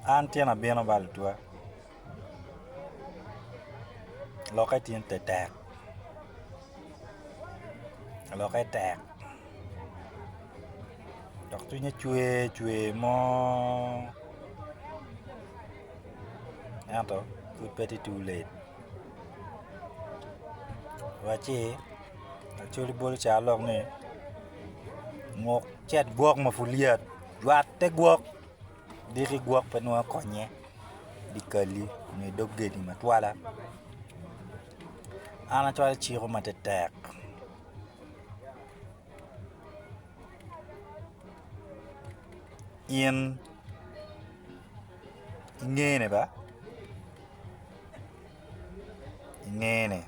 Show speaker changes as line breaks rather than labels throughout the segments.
An tyena bino ba lutwa lokke tye tetek lokke tek dok cwinye cwer cwer mo ento pud pe tye too late waci lacol bolo caro lok ni nguk cet gwok ma pud lyet. Lwak te gwok, diki gwok pe nongo akonye dye kal-li nyo idog gedi matwala an acwalo ciko ma tetek. In ingene ba ingene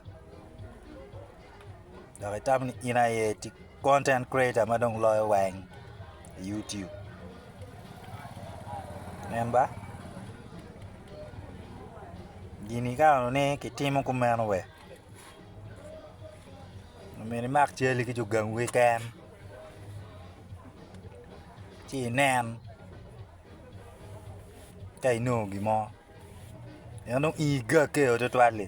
dok itamo ni in aye Content creator ma dong loyo weng i YouTube. Nen ba. Gini ikano ni kitimo kumeno we. Omyero imak cali ki jo gang wiken. Ci inen ka inongo gimo. Pien dong ii gageo tutwal li.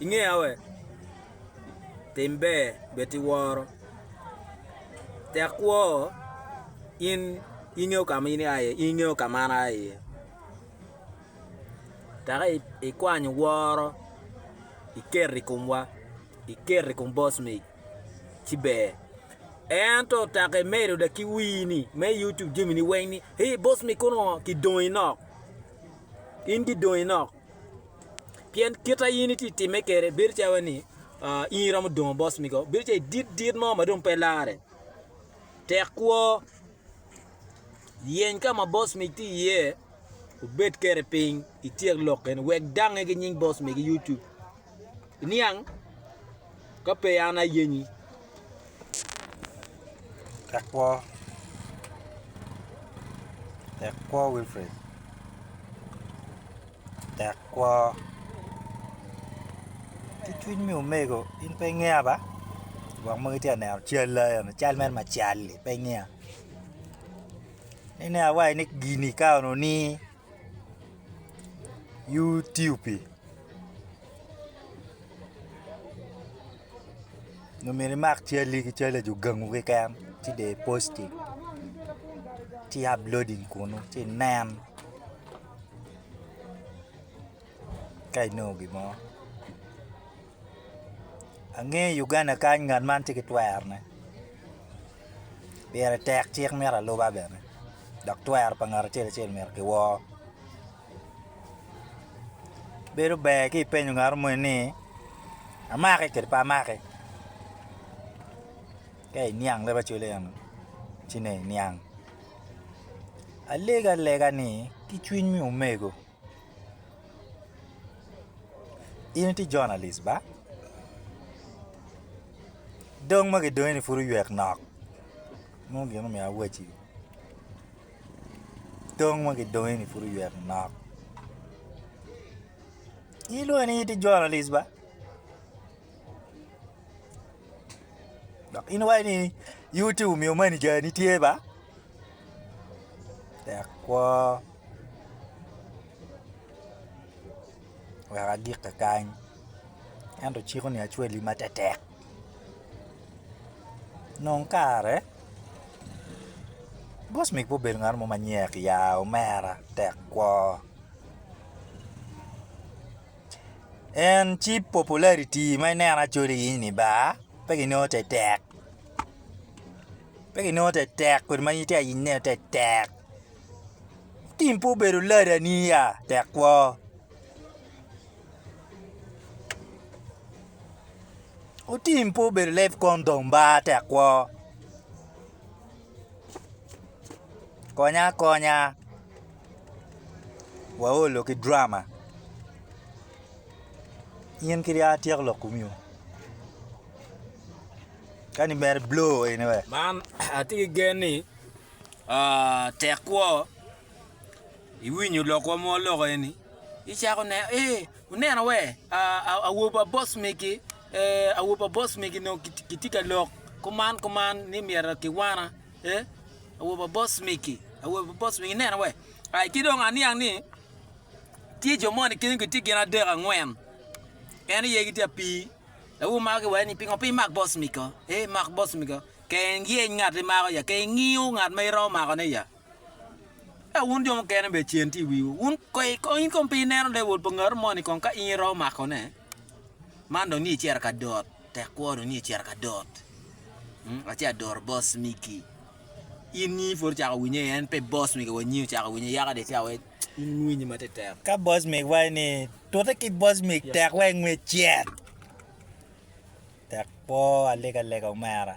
Ingeya we? Tim ber bed iworo. Tek kwo in ingeyo ka ma in ia iye, in ingeyo ka ma an aa iye. Tek ikwanyo woro iketo i komwa, iketo i kom boss man ci ber. Ento tek imedo dok ki wini me YouTube jamini weng ni, 'Hee boss man kono oo kidongi nok. in gidongi nok. Pien kit ma in itye timme kede bedo calo ni in iromo dongo boss migo, bedo calo idit dit mo ma dong pe larre. Tek kwo, yeny ka ma boss mig tye iye, wubed kede piny ityek lok kene wek dangnge ki nying boss migi YouTube. Iniang? ka pe an ayenyi. Tek kwo.
Tek kwo Wilfred. Tek kwo. Ki cwiny me omego in pe ingeya ba? Gwok magi tye ka neno cal la eno, cal mere macal-li pe ingeya. Ine awaci ni gini ka onongo ni Euthiopia. Nyo myero imak calli ki cal laco gangu keken ci dong i posti ci i uploading kunu ci inen ka inongo gin mo ange i Uganda kany ngat man ci ki twero ne pire tek cik myero aluba bene dok twero pa ngat acel acel myero ki wor Bedo ber ka ipenyo ngat moni ni amaki kadi pe amaki ka iniang leb acwele eno ci nongo iniang alego alega ni ki cwiny me omego in iti jonalic ba dong ma gidongi ni pud oywek nok nongo gin omiyo awacci. Dong ma gidongi ni pud oywe manok in ilwongo ni in itye journalist ba dok in iwaco ni youtube omiyo manager ni tye ba tek kwo wek agik kakany ento ciko ni acwali ma tetek. Nong kare Gosmic pe obedo ngat mo ma nyek ya omera tek kwo en ci popularity ma ineno acalo in ni ba pe kinongo tetek pe kinongo tetek kodi ma in itye ka yenyo ineno tetek tim pe obedo ladani ya tek kwo. Otim pe obedo leb kom dong ba tek kwo konya akonya waolo ki drama in kadi a tyeko lok komi o kadi mere i blo eni we man atye ki
gen ni tek kwo iwinyo lokwa ma waloko eni. Gicako neno, ee, wuneno wee, awobi pa boss megi, ee, awobi pa boss megi nongo gitye ka lok kuman kuman ni myero kiwana, ee, awobi pa boss megi, awobi pa boss megi, ineno wee, ai, ki dong aniang ni tye jo moni kene gitye gin adek angwen, en aye gitye ka pii, dok gumako ki wai ni pingo pe imak boss mego, ee, mak boss mego, ka iyeny ngat imako ya, ka ingiyo ngat ma iromo makone ya. Eka wun jo mukene bene cen tye i wiwu. Wun kong in kong pe ineno lewol pa ngatu moni kong ka in iromo makone? Man dong ni icito ka dot, tek kwo dong ni icito ka dot. Hmm, aci adoro boss migi. In nyi pud ocako winye, en pe boss migi wa nyi ocako winye yaka de ca wec in winyi ma tetek. Ka boss mig wa
ni tute ki boss mig tek wa ingwe cet. Tek kwo alega lega omera.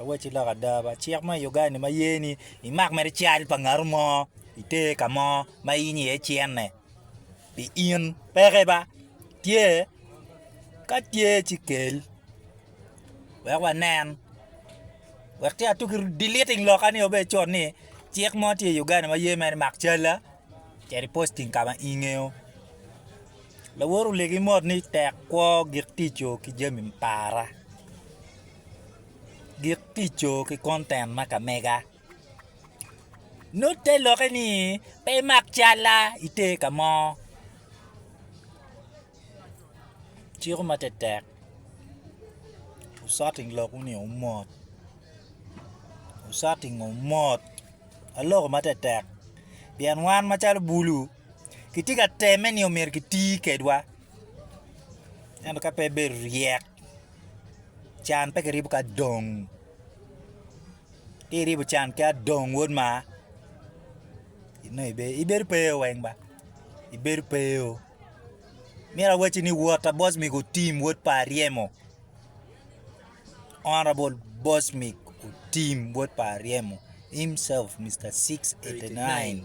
Awacci lok ada ba, cik ma i Uganda-ni ma ye ni imak mere cal pa ngatu mo iter ka mo ma in iye icenne pi in peke ba, tye? Ka tye ci kel wek wanen wek ci atuk ki deleting lokka ni wabedo cur ni cik mo tye i Uganda ma ye mere imak calla cit i posting ka ma ingeyo. Lawot olegi mot ni tek kwo gik tico ki jami me para, gik tico ki konten ma ka mega. Nut te lokke ni pe imak calla ite ka mo ciko ma tetek wucit ilok wunu ni wumot wucit inge wumot aloko ma tetek pien wan macalo bulu. Kitye ka temme ni omyero kiti kedwa, ento ka pe bedo ryek, can pe kiribo ki adong. Ka iribo can ki adong wod ma, inongo ibedo pe eo weng ba, ibedo pe eo. Myero awacci ni wot a bocmig otim wod pa Aryemo, honourable bocmig otim wod pa Aryemo, himself Mister six eighty nine.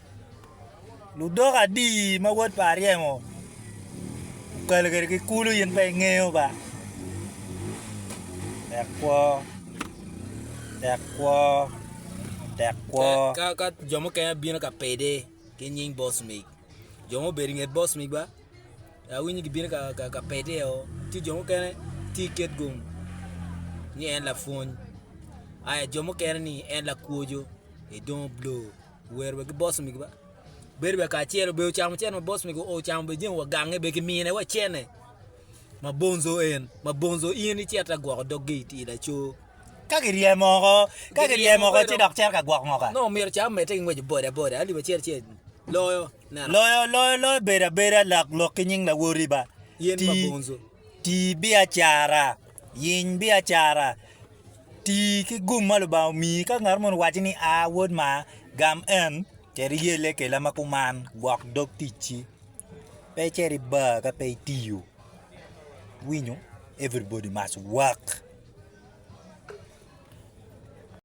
Ludok adi ma wod pa aryemo okelo kwede ki kulu in pe ingeyo ba? Tek kwo, tek kwo, tek kwo. Ka ka jo mukene
bino ka pede ki nying boss mig, jo mubedo i nget boss mig ba, awinyo gibino ka ka ka pede o, ci jo mukene tye ka ket gum ni en lapwony, aya jo mukene ni en lakwoco, edongo blur. Wer be ki boss migi ba. Bedo be kacelo be ocamo cene ma boss migi ocamo be jeng wa gange be ki mine wa cene. Ma bonzo en, ma bonzo in icet ta gwoko dog gi iti laco. Ka ki ryemo oko,
ka ki ryemo oko ci dok cero ka gwok ngoka. No miro ca mete ki
ngweco boda boda aliba cel cel loyo neno. Loyo loyo loyo
bedo abeda lak lok ki nying lawoti ba. Yen ma bonzo.
Ti
biacara, yiny biacara. Ti ki gum ma Lubanga omiyi. Ka ngat moni owacci ni, A, wod maa, gam en, cit iyelle kela ma kuman, gwok dog ticci. Pe icit i bar ka pe itiyo. Iwinyo? Everybody must work.